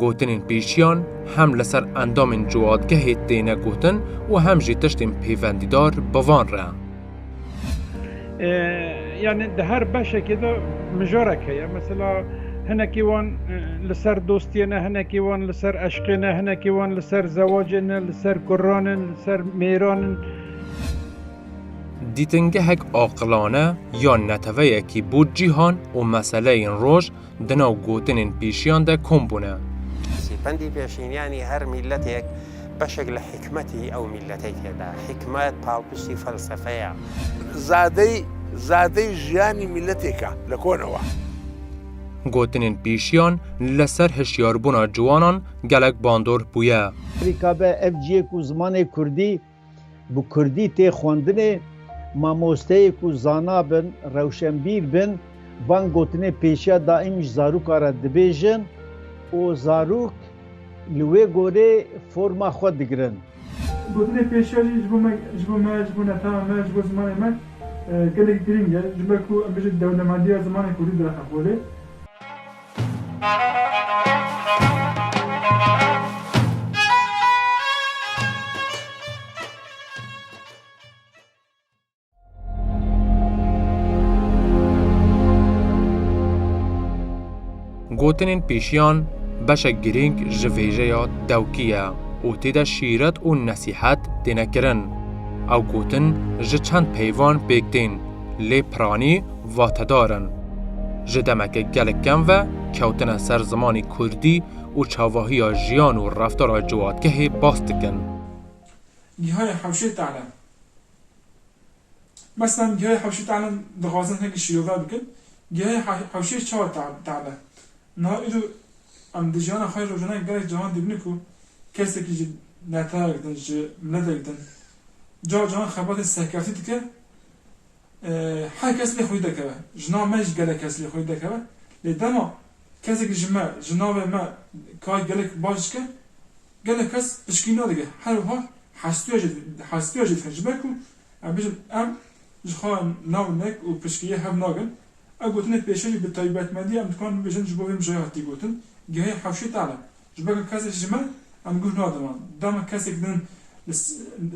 Gotinên pêşiyan hem li ser endamên ciwadgehê têne gotin û hem jî tiştên pêvendîdar bi van re. Yani di her beşekê de mijarek heye. Mesela hinekî wan li ser dostiyê ne, hinekî wan li ser eşqê ne, hinekî wan li ser zewacê ne, li ser kurranin, li ser mêranin. Dîtingehek aqilane ya neteweyekî bo cîhan û meseleyên roj Di nav gotinên pêşiyan de kom bûne. Sîpendî pêşînyanî her mîletêk beşek li hîkmetî ew mîletê têde. Hîkmet palpiştî felsefe ye. Zadeyî, zadeyî jiyanî mîletêk e li kone we. Gotinên pêşiyan li ser hişyarbûna ciwanan gelek bandor bûye. Rîkabe, ev ciyê ku zimanê kurdî. Bi kurdî tê xwendinê, mamosteyê ku zana bin, rewşenbîr bin, van gotinê pêşiya daîm ji zaroka re dibêjin û zarok li wê gorê forma xwe digirin. Gotinê pêşiya jî ji bo me, ji bo me, ji bo netewa me, ji bo zimanê me gelekî girîng e, ji ber ku em bijîn dewlemendiya zimanê kurdî direqe holê. Gotinên pêşiyan beşek girîng ji vêjeya dewkî ye û tê de şîret û nesîhet têne kirin. Ew gotin ji çend peyvan pêk tên lê piranî vatedar in. Ji demeke gelek kem ve kewtine ser zimanê kurdî û çavahiya jiyan û reftara ciwatgehê bas dikin. Gihanê hewşê talim. Mesela em gihanê hewşê talim dixwazin hinekî şîrove bikin, gihanê hewşê çawa talim e? Niha îro em di jiyana xwe ya rojane gelek caran dibînin ku kesekî ji netewek din, ji miletek din, cah caran xebatên serkeftî dike, Her kes lê xwî dekeve. Jina me jî gelek kes lê xwî dekeve. Lê dema kesekî ji me, ji navê me kar gelek baş dike, gelek kes pişkî nadike. Her wiha hestûya jî hestûya jî dikin. Ji ber ku em bijîn em ji xwe navnek û pişkiyê hev nakin. Ew gotinên pêşê jî bi taybetmendî em dikarin bibêjin ji bo vê mijaya hatî gotin, gehê hewşê tane. Ji ber ku kesê ji me em guh nadin wan. Dema kesek din li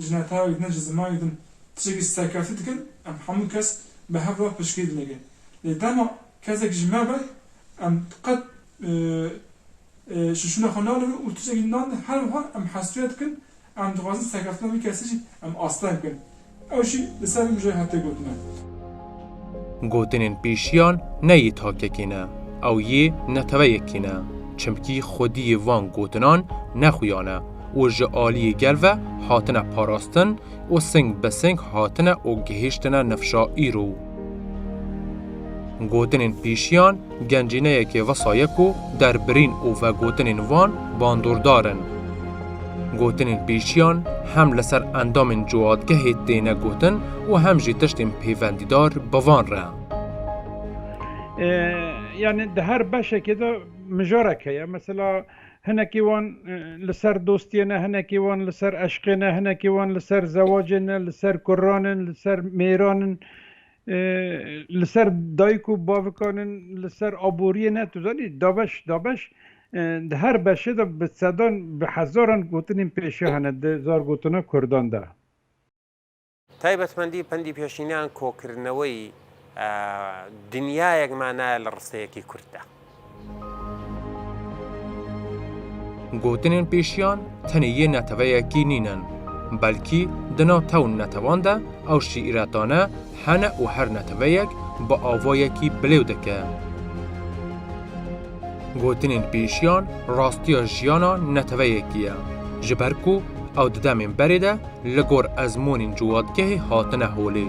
ji netewek din ji zimanê din tiştekî serkeftî dikin em hemû kes bi hev re piştgirî dinêgin. Lê dema kesek ji me be em qet şûnşûna xwe nalivin û tiştekî nadin her wiha em hestûya dikin Em dixwazin serkeftina wî kesî jî em asteng bikin. Ew jî li ser wî mijayê hatiye gotin. Gotinên pêşiyan ne yê takekê ne, ew yê neteweyekê ne. Çimkî xwediyê van gotinan ne xuya ne û ji aliyê gel ve hatine parastin û sing bi sing hatine û gihiştine nifşa îro. Gotinên pêşiyan Gencîneyekê vesaye ku derbirîn û vegotinên wan bandordar in. Gotinên pêşiyan hem li ser endamên cihadgehê têne gotin û hem jî tiştên pêvendîdar bi van re. Yani di her beşekê de mijarek heye. Mesela hinekî wan li ser dostiyê ne, hinekî wan li ser eşqê ne, hinekî wan li ser zewacê ne, li ser kurran in, li ser mêran in. Li ser dayik û bavikan in, li ser aboriyê ne tu zanî dabeş dabeş di her beşê de bi sedan bi hezaran gotinên pêşiya hene di zargotina kurdan de. Taybetmendî pendî pêşîneyan kokirineweyî dinyayek manaya li risteyekî kurd de. Gotinên pêşiyan tenê yê neteweyekî nînin, belkî di nav tew û netewan de ew şîîretane hene û her neteweyek bi avayekî bilêw dike. Gotinên pêşiyan rastiya jiyana neteweyekî ye, ji ber ku ew di demên berê de li gor ezmûnên ciwatgehê hatine holê,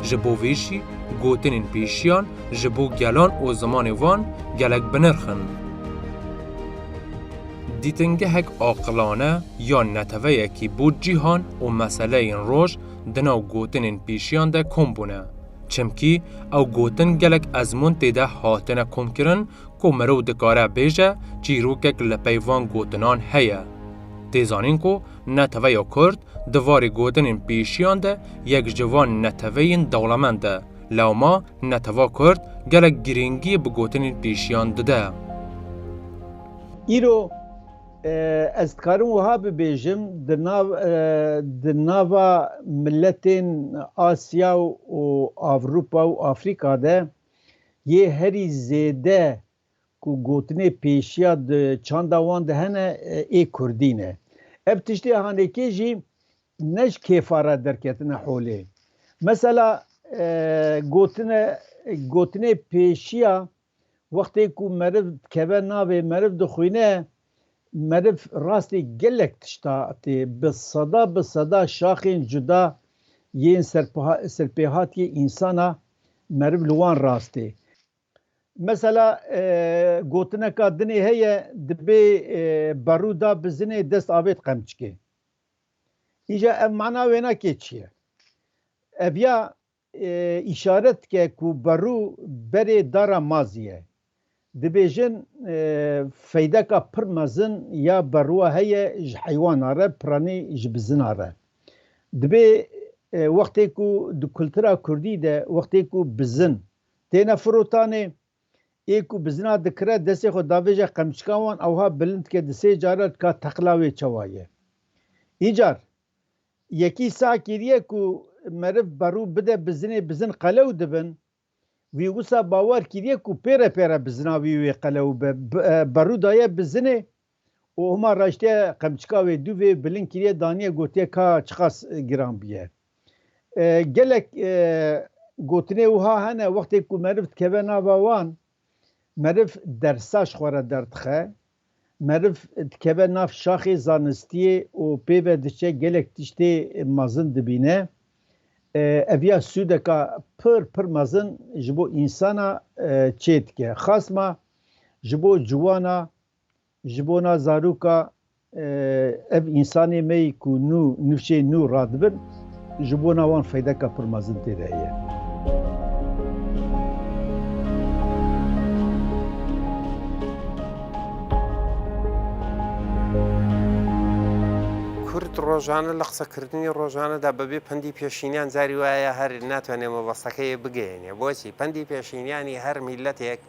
ji bo vê jî gotinên pêşiyan ji bo gelan û zimanê wan gelek bi nirx in. Dîtingehek aqilane ya neteweyekî bo cîhan û meseleyên roj di nav gotinên pêşiyan de kom bûne. Çimkî ew gotin gelek ezmûn tê de hatine komkirin ku mirov dikare bêje çîrokek li pey van gotinan heye. Tê zanîn ku neteweya Kurd di varê gotinên pêşiyan de yek ji van neteweyên dewlemend e. Lewma netewa Kurd gelek girîngî bi gotinên pêşiyan dide. Îro ez dikarim wiha bibêjim, di nav di nava miletên Asya û Avrupa û Afrika de yê herî zêde ku gotinê pêşiya di çanda wan de hene ê Kurdî ne. Ev tiştê hanekê jî Ne ji kêfa re derketine holê. Mesela gotine gotinê pêşiya wextê ku meriv dikeve navê meriv dixwîne meriv rastî gelek tişta tê bi seda bi seda şaxên cuda yên serpêhatiyê însana meriv li wan rastê. Mesela gotineka dinê heye dibê berû da bi zinê dest avêt qemçikê. Îja ev mana wêna kê çi ye? Ev ya îşaret dike ku Berû berê dara Mazî ye. Dibêjin feydeka pir mezin ya berûa heye ji heywana re piranî ji bizina re. Dibê wextê ku di kultura kurdî de wextê ku bizin têne firotanê Ê ku bizina dikire destê xwe davêje qemçika wan ewha bilind dike di sê cara dika teqla wê çawa ye. Îcar yekî sah kiriye ku meriv berû bide bizinê bizin qelew dibin. Wî wisa bawer kiriye ku pêre pêre bizina wî wê qelew be berû daye bizinê û hima raştiye qemçika wê dû vê bilind kiriye daniye gotiye ka çiqas giran biye. Gelek gotinê wiha hene wextê ku meriv dikeve nava wan meriv dersa ji xwe re derdixe, meriv dikeve nav şaxê zanistiyê û pê ve diçe gelek tiştê mezin dibîne. Ev ya sûdeka pir pir mezin ji bo însana çê dike. Xasma ji bo ciwana Ji bona zaroka ev însanê me yî ku nû nifşê nû radibin, ji bona wan feydeka pir mezin tê de heye. Kurd rojane li qisekirinê rojane de bi vê pendî pêşîniyan carî waya ye her natwene mebesteke yê bigeyîne. Boçî? Pendî pêşîniyanî her mîletêk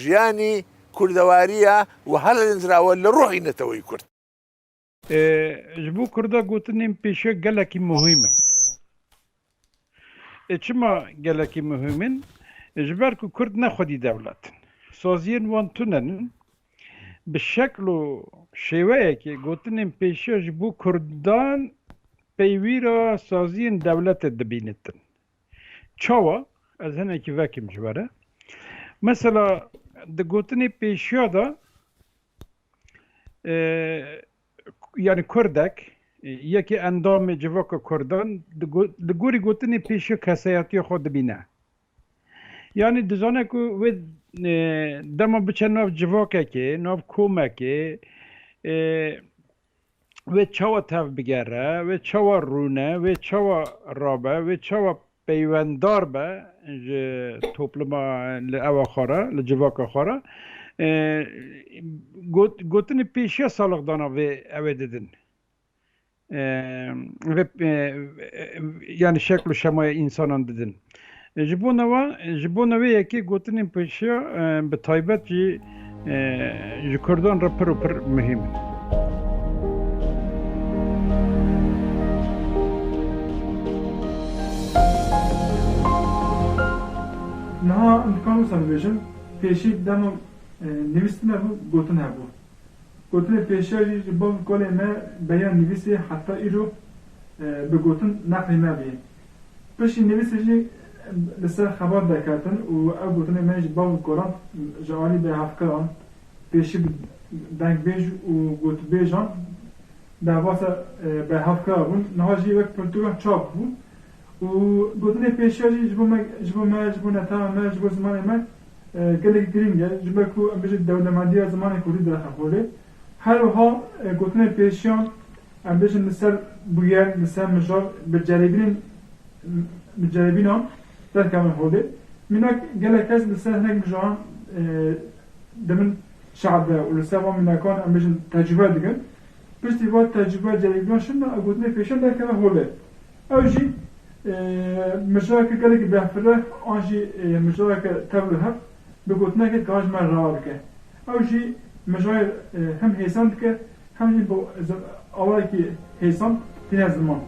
Jiyanî, Kurdewariya û hala lênzrawe li ruhî neteweyî kurd. Ji bo kurda gotinên pêşiya gelekî muhîm in. Çima gelekî muhîm in? Ji ber ku kurd ne xwedî dewlet in. Saziyên wan tune ne. Bi şekl û şêweyekê gotinên pêşiya ji bo kurdan peyvîra saziyên dewletê dibînitin. Çawa? Ez hinekî vekim ji we re. Mesela di gotinê pêşiya de yanî kurdek yekê endamê civaka kurdan li gorî gotinê pêşiya keseyetiya xwe dibîne. Yanî dizane ku wê dema biçe nav civakekê, nav komekê wê çawa tev bigere, wê çawa rûne, wê çawa rabe, wê çawa peywendar be ji topluma li ewa xwe re, li civaka xwe re. Got, gotinê pêşiya salixdana vê ew ê didin. Vê, yani şekl û şemaya însanan didin. Ji bo ne wan, ji bo ne wê yekê gotinên pêşiya bi taybet jî ji Kurdan re pir û pir muhîm in. Niha dikarim wisa bibêjim, pêşî di dema nivîstin de bû, gotin hebû. Gotinên pêşiya jî ji bav û kalên me beriya nivîsê heta îro bi gotin neqlî me bûye. Piştî nivîsê jî li ser xebat derketin û ew gotinên me ji bav û kolan ji alî bê hevkiran, pêşî bi dengbêj û gotbêjan derbasa berhevkira bûn, niha jî wek pirtûkan çap bû û gotinên pêşiya jî ji bo me, ji bo me, ji bo netewa me, ji bo zimanê me gelekî girîng e, ji ber ku em bijî dewlemendiya zimanê kurdî direxe holê. Her wiha gotinên pêşiyan em bêjin li ser bûyer, li ser mijar bi ceribînên bi ceribînan derkevin holê. Mînak gelek kes li ser hinek mijaran di bin şe'be û li ser van mînakan em bêjin tecrûbe dikin. Piştî van tecrûbe ceribînan şinna ev gotinên pêşiyan derkeve holê. Ew jî mijareke gelekî behfireh an jî mijareke tevlihev bi gotinekê dikarin ji me re ava bike. Ew jî mijayê hem hêsan dike hem jî bi awayekî hêsan tîne ziman.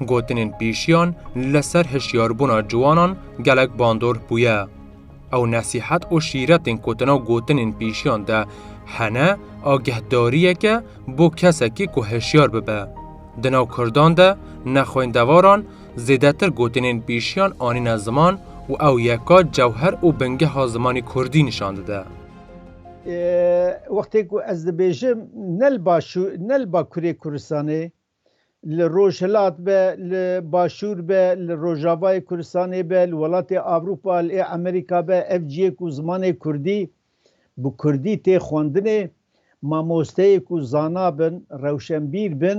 Gotinên pêşiyan li ser hişyarbûna ciwanan gelek bandor bûye. Ew nesîhet û şîretên ku di nav gotinên pêşiyan de hene agehdariyek e bo kesekî ku hişyar bibe. Di nav Kurdan de ne xwendevaran Zêdetir gotinên pêşiyan anîne ziman û ew yeka cewher û bingeha zimanê kurdî nîşan dide. Wextê ku ez dibêjim ne li başû ne li bakurê Kurdistanê, li rojhilat be, li başûr be, li rojavayê Kurdistanê be, li welatê Ewropa, li Amerîka be, ev ciyê ku zimanê kurdî bi kurdî tê xwendinê, mamosteyê ku zana bin, rewşenbîr bin,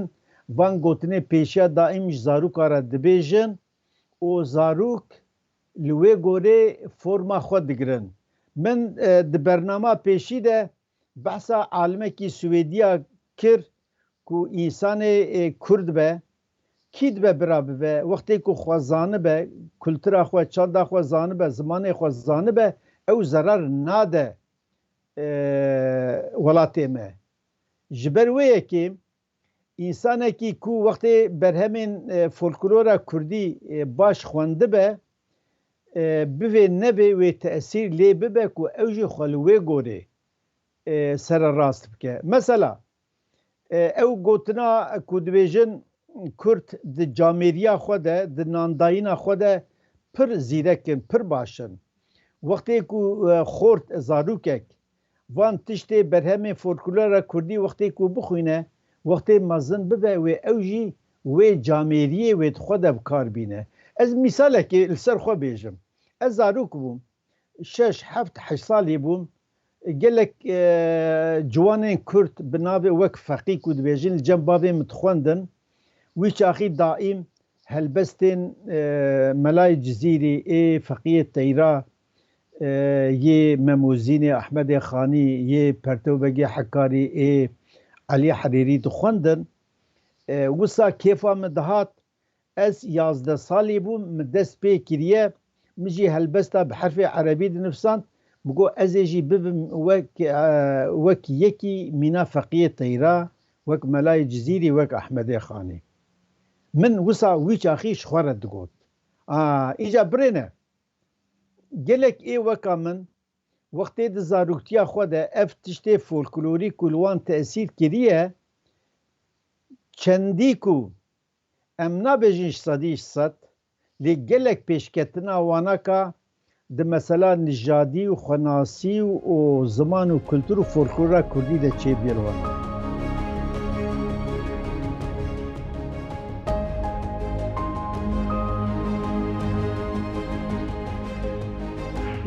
van gotinê pêşiya daîm ji zaroka re dibêjin û zarok li wê gorê forma xwe digirin. Min di bernama pêşî de behsa alimekî Swêdî ya kir ku însanê kurd be, Kî dibe bira bibe, wextê ku xwe zanibe, kultura xwe, çanda xwe zanibe, zimanê xwe zanibe, ew zerar nade welatê me. Ji ber wê yekê însanekî ku wextê berhemên folklora kurdî baş xwendibe, bivê nevê wê tesîr lê bibe ku ew jî xwe li wê gorê sererast bike. Mesela, Ew gotina ku dibêjin Kurd di camêriya xwe de, di nandayîna xwe de pir zîrek in, pir baş in. Wextê ku xort zarokek van tiştê berhemên folklora Kurdî wextê ku bixwîne, wextê mezin bibe wê ew jî wê camêriyê wê di xwe de bi kar bîne. Ez mîsalekê li ser xwe bêjim. Ez zarok bûm, Şeş, heft, heşt salî bûm, gelek ciwanên kurd bi navê wek Feqî ku dibêjin li cem bavê min dixwendin. Wî çaxî daîm helbestên Melayê Cizîrî ê, Feqîyê Teyra yê, Memozînê Ehmedê Xanî yê, Pertew Begê Hekarî ê, Elî Herîrî dixwendin. Wisa kêfa min dihat Ez yazdeh salî bûm min dest pê kiriye, min jî helbesta bi herfê erebî dinifisand, min got ez ê jî bibim wek wek yekî mîna feqiyê teyra, wek melayê Cizîrî, wek Ehmedê Xanî. Min wisa wî çaxî ji xwe re digot, A, înca birêne! Gelek ê weka min wextê di zaroktiya xwe de ev tiştê folklorî ku li wan tesîr kiriye, çendî ku Em nabêjin ji sedî ji sed, lê gelek pêşketina wanaka di mesela nijadî û xwenasî û ziman û kultur û folklora kurdî de çêbûye li wan.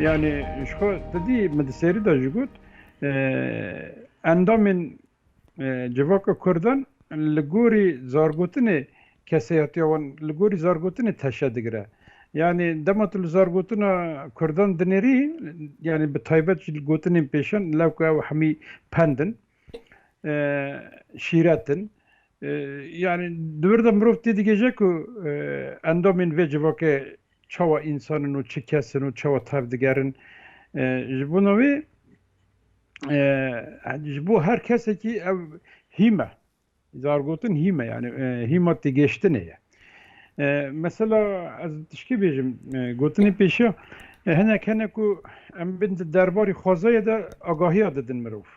Yanî ji xwe sedî min di serî de jî got, endamên Civaka kurdan li gorî zargotinê keseyatiya wan li gorî zargotinê teşe digire. Yanî dema tu li zargotina kurdan dinêrî yanî bi taybet jî li gotinên pêşan lewqe ew hemî pend in, şîret in. Yanî di wir de mirov têdigihêje ku endamên vê civakê çawa însan in û çi kes in û çawa tev digerin. Ji bona wê ji bo her kesekî ev hîme zargotin hîme yani hîma têgêştinê ye mesela ez tişkî bêjim gotinê pêşiya hinek hene ku em bin di derbarî xwezayê de agahiya didin mirov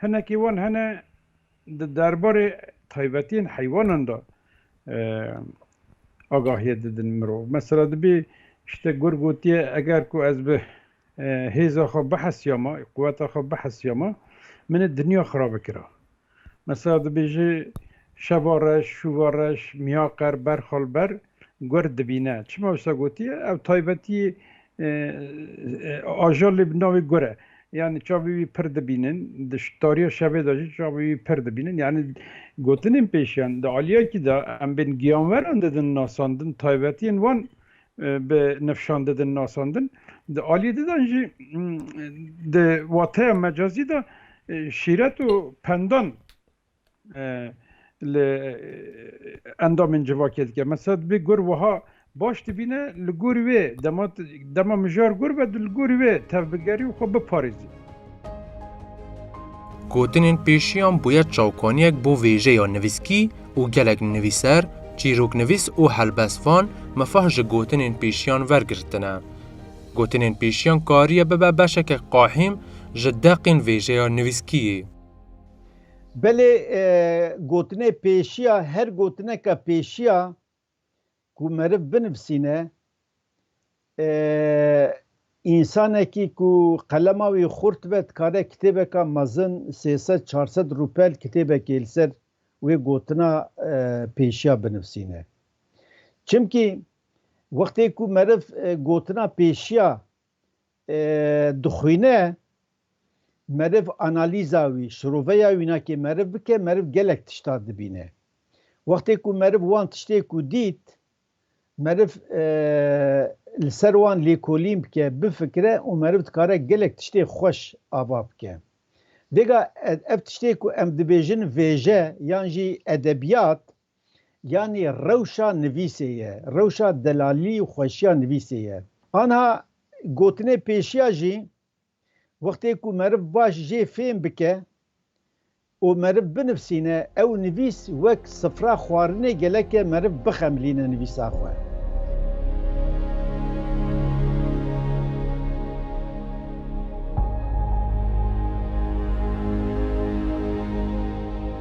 hinekî wan hene Di derbarê taybetiyên heywanan de agahiye didin mirov. Mesela dibê işte gur gotiye eger ku ez bi hêza xwe bihesiyama, quweta xwe bihesiyama min ê dinya xira bikira. Mesela dibêje şeva reş, şûva reş, miyaqer, berxal ber gurd dibîne. Çima wisa gotiye? Ew taybetiyê ajalê bi navê gur e. Yanî çavê wî pir dibînin, di tariya şevê de jî çavê wî pir dibînin. Yanî gotinên pêşiyan di aliyekî de em bên giyanweran didin nasandin, taybetiyên wan bi nifşan didin nasandin. Di aliyê di de jî di wateya mecazî de şîret û pendan. li endamên civakê dike. Mesela divê gur wiha baş dibîne li gorî wê dema dema mijar gur be tu li gorî wê tevbigerî û xwe biparêzî. Gotinên pêşiyan bûye çavkaniyek bo vêjeya nivîskî û gelek nivîser, çîroknivîs û helbestvan mifah ji gotinên pêşiyan wergirtine. Gotinên pêşiyan kariye bibe beşeke qahîm ji deqên vêjeya nivîskiyê. Belê gotinê pêşiya her gotineke pêşiya ku meriv binivisîne, însanekî ku qelema wî xurt be dikare kitêbeka mezin sê sed çar sed rûpel kitêbekê li ser wê gotina pêşiya binivisîne. Çimkî wextê ku meriv gotina pêşiya dixwîne meriv analîza wî, şiroveya wî nakê meriv bike, meriv gelek tiştan dibîne. Wextê ku meriv wan tiştê ku dît, meriv li ser wan lêkolîn bike, bifikire û meriv dikare gelek tiştê xweş ava bike. Vêga ev tiştê ku em dibêjin vêje yan jî edebiyat, Yanî rewşa nivîsê ye, rewşa delalî û xweşiya nivîsê ye. Anha gotinê pêşiya jî wextê ku meriv baş jê fêm bike û meriv binivsîne, ew nivîs wek sifra xwarinê geleke meriv bixemilîne nivîsa xwe.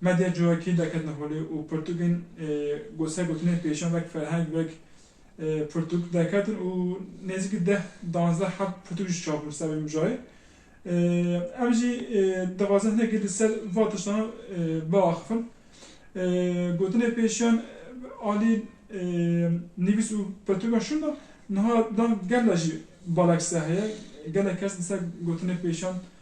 Medya cihokî daketine holê û pirtûkên ku ser gotinên pêşan wek ferheng, wek pirtûk daketin û nêzîkî deh, danzdeh heft pirtûk jî çap bûn ser vê mijayê. Em jî dixwazin hinekî li ser van tiştan biaxifin. Gotinên pêşiyan alî nivîs û pirtûkan şûn da. Niha dan gerla jî balakîse heye. Gelek kes li ser gotinên pêşiyan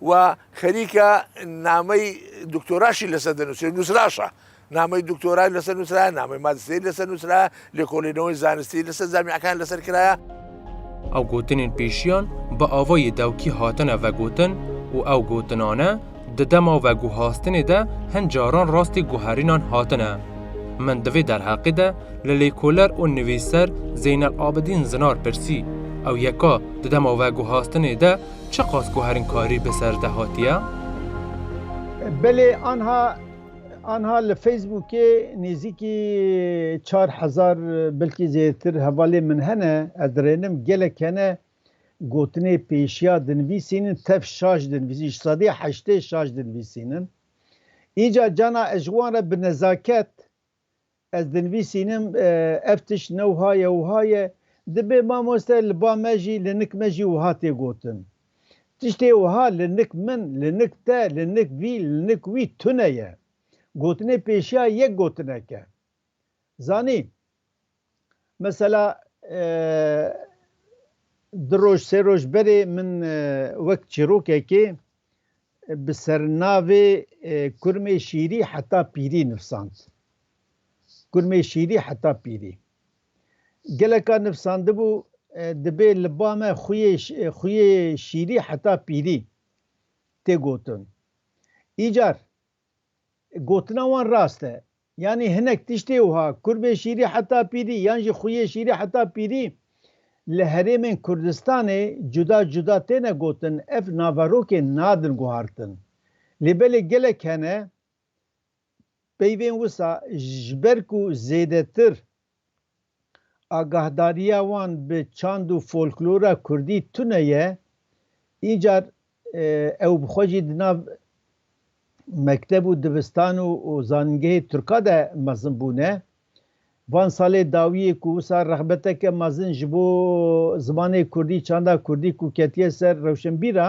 We xerîka nameyî doktora jî li ser dinûsî nûsraşa. Nameyî doktorayê li ser nûsraye, nameyî majîsterî li ser nûsraye, lêkolîneweyî zanistî li ser zamiyakan li ser kiraye. Ew gotinên pêşiyan bi avayê dewkî hatine vegotin û ew gotinane di dema veguhastinê de hin caran rastî guherînan hatine. Min di vê derheqê de li lêkoler û nivîsser Zeynel Abidîn Zinar pirsî, ew yeka di dema veguhastinê de Çiqas ku herin karî bi ser de hatiye. Belê anha anha li Facebookê nêzîkî çar hezar belkî zêdetir hevalên min hene. Ez dirênim gelek hene gotinê pêşiya dinvîsînin tev şaş dinvîsîn ji sedî heştê şaş dinvîsînin. Îca cana ez ji wan re bi nezaket Ez dinivîsînim ev tişt ne wiha ye wiha ye, dibe mamoste li ba me jî li nik me jî wiha tê gotin. Tiştê wiha li nik min, li nik te, li nik vî, li nik wî tune ye. Gotinê pêşiya yek gotinek e. Zanî. Mesela du roj sê roj berê min wek çîrokekê bi sernavê Kurmê şîrî heta pîrî nivsand. Kurmê şîrî heta pîrî. Geleka nivsandibû dibê li ba me xuyê xuyê şîrî heta pîrî tê gotin. Îcar Gotina wan rast e. Yanî hinek tiştê wiha, kurbê şîrî heta pîrî yan jî xuyê şîrî heta pîrî li herêmên Kurdistanê cuda cuda têne gotin, ev naverokên nadin guhartin. Lê belê gelek hene peyvên wisa ji ber ku zêdetir Agahdariya wan bi çand û folklora kurdî tune ye, încar ew bi xwe jî di nav mekteb û dibistan û zanîngehê Turka de mezin bûne. Van salê dawî yê ku wisa rexbeteke mezin ji bo zimanê kurdî, çanda kurdî ku ketiye ser rewşenbîra